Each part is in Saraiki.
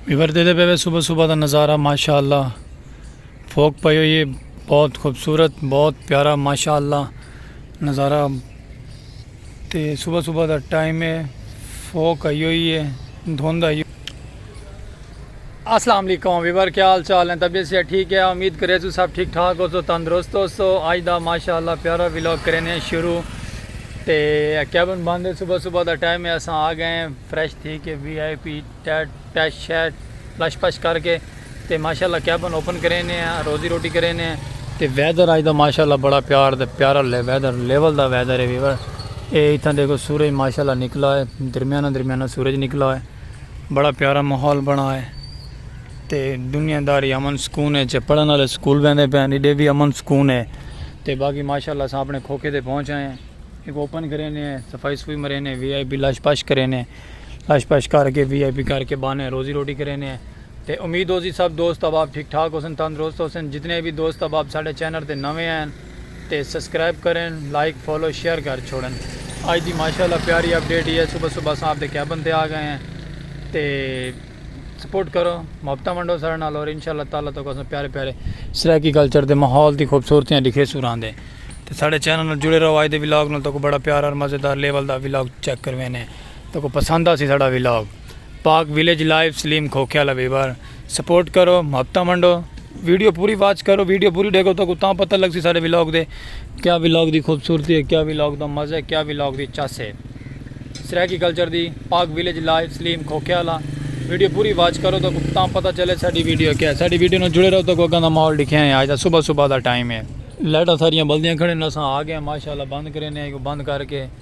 ویور دے دے پہ صبح صبح دا نظارہ ماشاءاللہ اللہ فوک پہ یہ بہت خوبصورت بہت پیارا ماشاءاللہ اللہ نظارہ تے صبح صبح دا ٹائم ہے فوک آئی ہوئی ہے دھند آئی ہوئی اسلام علیکم ویور کیا حال چال ہیں طبیعت سے ٹھیک ہے امید کرے تو سب ٹھیک ٹھاک ہو تو تندرست ہو سو آج دا ماشاءاللہ پیارا ویلوگ کرے نے شروع تے کیبن بند ہے صبح صبح دا ٹائم ہے اساں آ گئے ہیں فریش تھی کے وی آئی پی ٹیٹ ٹیٹ شیٹ لش پش کر کے تے ماشاءاللہ کیبن اوپن کرے نے ہیں روزی روٹی کرے نے ہیں تے ویدر آج دا ماشاءاللہ بڑا پیار دے پیارا لے ویدر لیول دا ویدر ہے ویور اے اتھاں دیکھو سورج ماشاءاللہ نکلا ہے درمیانہ درمیانہ سورج نکلا ہے بڑا پیارا ماحول بنا ہے تے دنیا داری امن سکون ہے پڑھن والے سکول ویندے پئے ہیں ڈے بھی امن سکون ہے تے باقی ماشاءاللہ اساں اپنے کھوکے تے پہنچ آئے ہیں ایک اوپن کرے نے ہیں صفائی صفوئی مرے نے وی آئی پی لاش پاش کرے نے لاش پاش کر کے وی آئی پی کر کے بانے روزی روٹی کرے نے ہیں تے امید ہو سی سب دوست احباب ٹھیک ٹھاک ہو سن تندرست ہو سن جتنے بھی دوست احباب ساڑے چینر تے نوے ہیں تے سسکرائب کرن لائک فالو شیئر کر چھوڑن اج دی ماشاءاللہ پیاری اپ ڈیٹ ہی ہے صبح صبح اساں اپ دے کیبن تے آ گئے ہیں تے سپورٹ کرو محبتاں ونڈو سارے نال اور انشاءاللہ تعالی تو اساں پیارے پیارے سرائیکی کلچر دے ماحول دی خوبصورتیاں دکھے سو راندے تے ساڈے چینل نال جڑے رہو اج دے ولاگ نال تو کو بڑا پیارا اور مزیدار لیول دا ولاگ چیک کروینے تو کو پسند آسی ساڈا vlog Pak village live Saleem کھوکھیا لبیبر سپورٹ کرو محبتہ منڈو ویڈیو پوری واچ کرو ویڈیو پوری ڈیکھو تو تاں پتہ لگ سی سارے ویلاگ دے کیا ویلاگ دی خوبصورتی ہے کیا ویلاگ دا مزہ ہے کیا ویلاگ دی چس ہے سرائیکی کلچر دی پاک ویلیج لائیو سلیم کھوکھیا لا ویڈیو پوری واچ کرو تو تاں پتہ چلے ساڑی ویڈیو کیا ہے ساڑی ویڈیو نو جڑے رہو تو اگاں دا ماحول دکھیا ہے آج دا صبح صبح دا ٹائم ہے لائٹاں ساریاں بلدیاں کھڑے نساں آگے ہیں ماشاءاللہ بند کرے نے آئی کو بند کر کے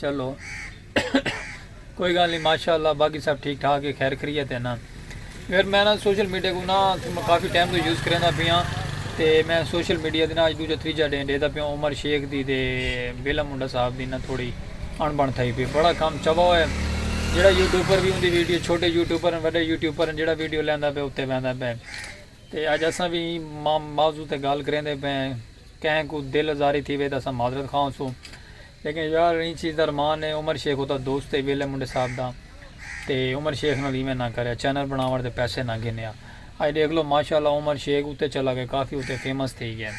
چلو کوئی گال نہیں ماشاء اللہ باقی سب ٹھیک ٹھاک ہے خیر خریت ہے نا پھر میں نا سوشل میڈیا کو نا کافی ٹائم تو یوز کریں پیا تو میں سوشل میڈیا دینا اج دوجا تریجا ڈے ڈے دا پیا عمر شیخ دی تے بیلا منڈا صاحب دی نا تھوڑی اڑ بن تھائی پی بڑا کام چبا ہوئے جڑا یوٹیوبر بھی ہوندی ویڈیو چھوٹے یوٹیوبر ہیں وڈے یوٹیوبر ہیں جڑا ویڈیو لیندا پہ اتے بیندا پہ تے اج اساں بھی موضوع تے گال کریں دے پہ کہیں کو دل ازاری تھی وے تے اساں معذرت خواہ سوں لیکن یار ایں چیز دا رمان اے عمر شیخ اتا دوست اے ویلے منڈے صاحب دا تے عمر شیخ نال ایویں نہ کریا چینل بناون دے پیسے نہ گھنیا اج ڈیکھ لو ماشاءاللہ عمر شیخ اتے چلا گئے کافی اتے فیمس تھئی گئے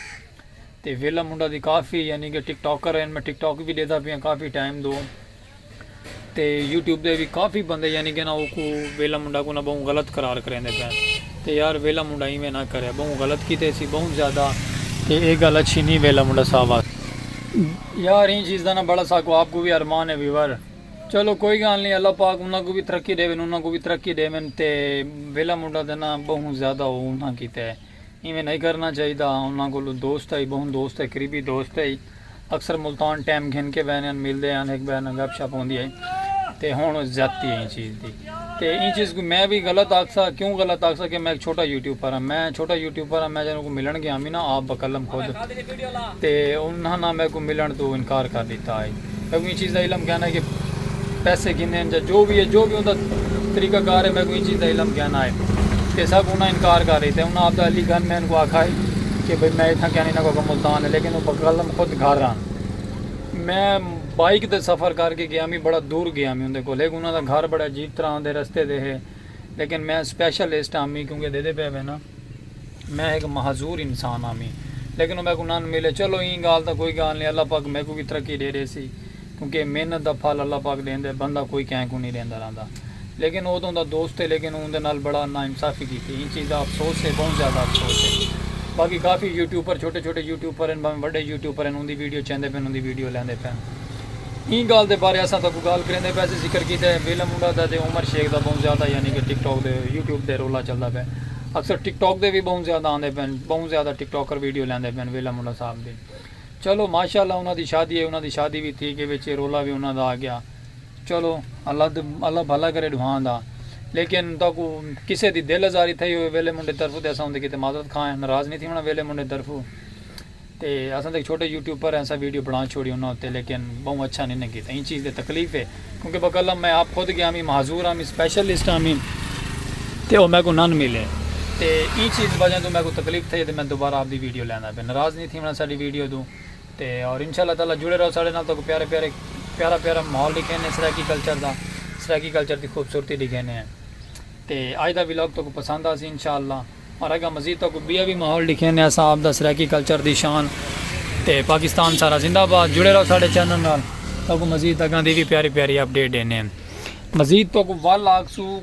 تے ویلہ منڈا دی کافی یعنی کہ ٹک ٹاکر ہن میں ٹک ٹاک وی ڈیدھا پیاں کافی ٹائم دو۔ تے یوٹیوب دے وی کافی بندے یعنی کہ نا اوکوں ویلا منڈا کوں نا بہوں غلط قرار کریندے پئن تے یار ویلا منڈا ایویں نا کرے بہوں غلط کیتے سی بہوں زیادہ تے اے گل اچھی نی ویلا منڈا صاحب واسطے۔ یار ایں چیز دا نا بڑا ساکوں آپ کوں وی ارمان ہے ویور چلو کوئی گال نی اللہ پاک انہاں کوں وی ترقی ڈیون انہاں کوں وی ترقی ڈیون تے ویلا منڈا تے نا بہوں زیادہ او انہاں کیتے۔ ایویں نئیں کرنا چاہیدا۔ انہاں کولوں دوست ہئی، بہوں دوست ہئی، قریبی دوست ہئی۔ اکثر ملتان ٹیم گھن کے بہنے ہن، ملدے ہن، ہک ٻئے نال گپ شپ ہوندی ہئی۔ تے ہݨ زیادتی ہے ایں چیز دی۔ تے ایں چیز کوں میں وی غلط آکھسا، کیوں غلط آکھسا کہ میں ہک چھوٹا یوٹیوپر ہاں۔ میں چھوٹا یوٹیوپر ہاں، میں جنہاں کوں ملݨ گیاں وی نا آپ بقلم خود تے انہاں نا میکوں ملݨ توں انکار کر ݙتا ہئی۔ میکوں ایں چیز دا علم کینا ہے کہ پیسے گھنے ہن یا جو وی ہے جو وی اوندا طریقہ کار ہے میکوں ایں چیز دا علم کینا ہے تے سب انہاں انکار کر ڈیتا ہے انہاں آپدا علی گنج میں انکوں آکھا ہے کہ بھئی میں اتھاں کینا انہاں کو اگوں ملتان ہے لیکن او بقلم خود گھر آن میں بائیک تے سفر کر کے گیا میں بڑا دور گیا میں اوندے کول ہک انہاں دا گھر بڑا عجیب طرح دے رستے دے ہے لیکن میں سپیشلسٹ آں میکوں کے دیدے پئے وینا۔ میں ہک معذور انسان ہاں میں لیکن او میکوں نن ملے چلو ایں گالھ دا کوئی گالھ نئیں اللہ پاک میکوں وی ترقی ڈے ڈیسی کیونکہ محنت دا پھل اللہ پاک ڈیندے بندہ کوئی کہیں کوں نئیں ڈیندا رہندا لیکن او تاں اوندا دوست ہے لیکن اوندے نال بڑا نا انصافی کیتی ایں چیز دا افسوس ہے بہوں زیادہ افسوس ہے باقی کافی یوٹیوبر چھوٹے چھوٹے یوٹیوبر ہن بھاویں وڈے یوٹیوبر ہن اوندی ویڈیو چیندے پن اوندی ویڈیو لیندے پن ایں گالھ دے بارے اساں تاکوں گالھ کریندے پے اساں ذکر کیتے ویلم منڈا دا تے عمر شیخ دا بہوں زیادہ یعنی کہ ٹک ٹاک دے یوٹیوب دے رولا چلدا پے اکثر ٹک ٹاک دے وی بہوں زیادہ آندے پن بہوں زیادہ ٹک ٹاکر ویڈیو لیندے پن ویلا منڈا صاحب دی چلو ماشاءاللہ انہاں دی شادی ہے انہاں دی شادی وی تھی کے وچ رولا وی انہاں دا آگیا چلو اللہ اللہ بھلا کرے ڈوہاں دا لیکن تاکو کسے دی دل ازاری تھئی ہوئے ویلے منڈے طرفو تے اساں اندے کیتے معذرت خواہ ہیں ناراض نہیں تھی ہونا ویلے منڈے طرفو تے اساں تاں ہک چھوٹے یوٹیوپر ہیں اساں ویڈیو بنڑا چھوڑی انہاں اتے لیکن بہوں اچھا نی نیں کیتا ایں چیز تے تکلیف ہے کیونکہ بقلم میں آپ خود گیا ہمیں معذور ہمیں سپیشلسٹ ہمیں تے او میں کو نن ملے تے ایں چیز دی وجہ توں میں کو تکلیف تھئی تے میں دوبارہ آپ دی ویڈیو لیندا پیا ناراض نی تھیونا ساڈی ویڈیو توں تے اور انشاءاللہ تعالی جڑے رہو ساڈے نال تہاکوں پیارے پیارے پیارا پیارا ماحول ڈکھینے سرائیکی کلچر دا سرائیکی کلچر دی خوبصورتی ڈکھینے ہیں تے اج دا ولاگ تہاکوں پسند آسی انشاءاللہ اور اگاں مزید تہاکوں بیا وی ماحول ڈکھیندے ہاں ساں آپ دا سرائیکی کلچر دی شان تے پاکستان سارا زندہ باد جڑے رہو ساڈے چینل نال تہاکوں مزید اگاں دی وی پیاری پیاری اپ ڈیٹ ڈیندے ہیں مزید تہاکوں ول آکھسوں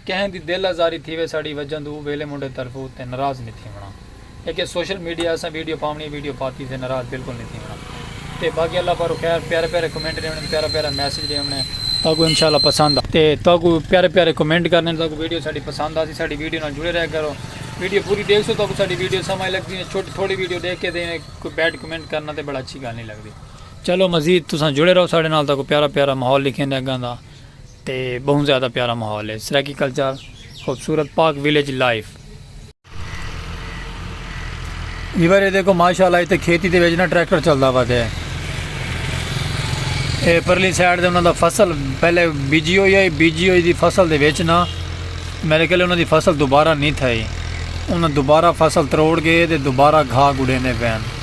کہیں دی دل آزاری تھیوے ساڈی وجہ توں او ویلے منڈے طرفوں تے ناراض نی تھیونڑاں اے کہ سوشل میڈیا اساں ویڈیو پاونڑی اے ویڈیو پاتی تے ناراض بالکل نی تھیونڑاں۔ تے باقی اللہ پاروں خیر پیارے پیارے کمنٹ ڈے ونے پیارا پیارا میسج ڈے ونے تاکو انشاءاللہ پسند آ تے تاکو پیارے پیارے کمنٹ کرنے تاکو ویڈیو ساڈی پسند آسی ساڈی ویڈیو نال جڑے رہ کرو ویڈیو پوری دیکھ سو تاکو ساڈی ویڈیو سمجھ لگ دی چھوٹی تھوڑی ویڈیو دیکھ کے دے کوئی بیڈ کمنٹ کرنا تے بڑا اچھی گل نہیں لگ دی چلو مزید تساں جڑے رہو ساڈے نال تاکو پیارا پیارا ماحول لکھیں دے اگاں دا تے بہت زیادہ پیارا ماحول ہے سرائیکی کلچر خوبصورت پاک ویلیج لائف ایوارے دیکھو ماشاءاللہ ایتھے کھیتی دے وچ نا ٹریکٹر چلدا ہوا تے اے پرلی سائیڈ دے انہاں دا فصل پہلے بیجی ہوئی ہے بیجی ہوئی دی فصل دے وچ نا میرے کہلے انہاں دی فصل دوبارہ نہیں تھائی انہاں دوبارہ فصل تروڑ گئے تے دوبارہ گھا گڑیندے پئے ہیں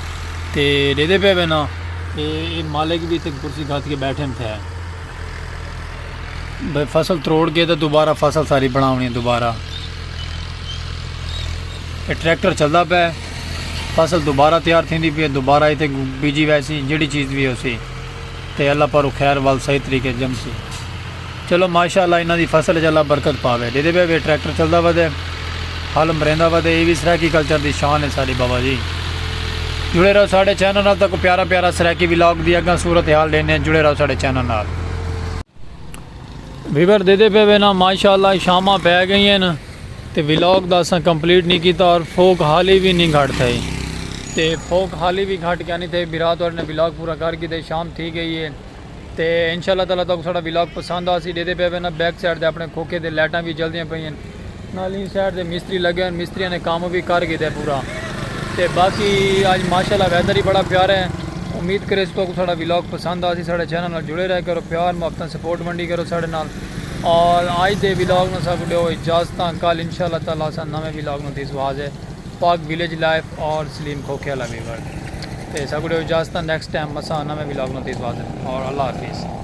تے ڈیدے پئے وے نا تے اے مالک وی تے کرسی گھد کے بیٹھے ہن تھے بھئی فصل تروڑ کے تے دوبارہ فصل ساری بناونی دوبارہ اے ٹریکٹر چلدا پئے فصل دوبارہ تیار تھیندی پئے دوبارہ ایتھے بیجی ویسی جیڑی چیز وی ہوسی تے اللہ پاروں خیر ول صحیح طریقے اچ جمسی۔ چلو ماشاء اللہ انہاں دی فصل اچ اللہ برکت پاوے۔ ڈیدھے بئے وے ٹریکٹر چلدا ودے۔ ہل مریندا ودے۔ ایہ وی سرائیکی کلچر دی شان ہے ساڈی بابا جی۔ جڑے رہو ساڈے چینل نال تہاکوں پیارا پیارا سرائیکی ولاگ دی اگاں صورت حال ڈیندے ہیں جڑے رہو ساڈے چینل نال۔ ویور ڈیدھے پئے وے نا ماشاء اللہ شاماں پئے گئیاں ہن۔ تے ولاگ دا اساں کمپلیٹ نی کیتا اور فوک حالی وی نی گھٹ تھئے تے فوک حالی وی گھٹ کیا نی تھئے بھرا تہاڈے نال ولاگ پورا کر گھدے شام تھی گئی ہے تے انشاءاللہ تعالی تہاکوں ساڈا ولاگ پسند آسی ڈیدے پئے وینا بیک سائیڈ تے اپنے کھوکھے تے لائٹاں وی جلدیاں پئیاں ہن نال ایں سائیڈ تے مستری لگے ہن مستریاں نے کم وی کر گھدے پورا تے باقی اج ماشاءاللہ ویدر وی بڑا پیارا ہے امید کریس تہاکوں ساڈا ولاگ پسند آسی ساڈے چینل نال جڑے رہ کرو پیار محبتاں سپورٹ ونڈی کرو ساڈے نال اور آج دے ولاگ نو اساں کو ڈیو اجازتاں کل انشاء اللہ تعالی اساں نویں ولاگ نو دیسوں حاضر پاک ویلیج لائف اور سلیم کھوکھے والا ویور تے اساں کو ڈیو اجازتاں نیکسٹ ٹائم اساں نویں ولاگ نو دیسوں حاضر اور اللہ حافظ۔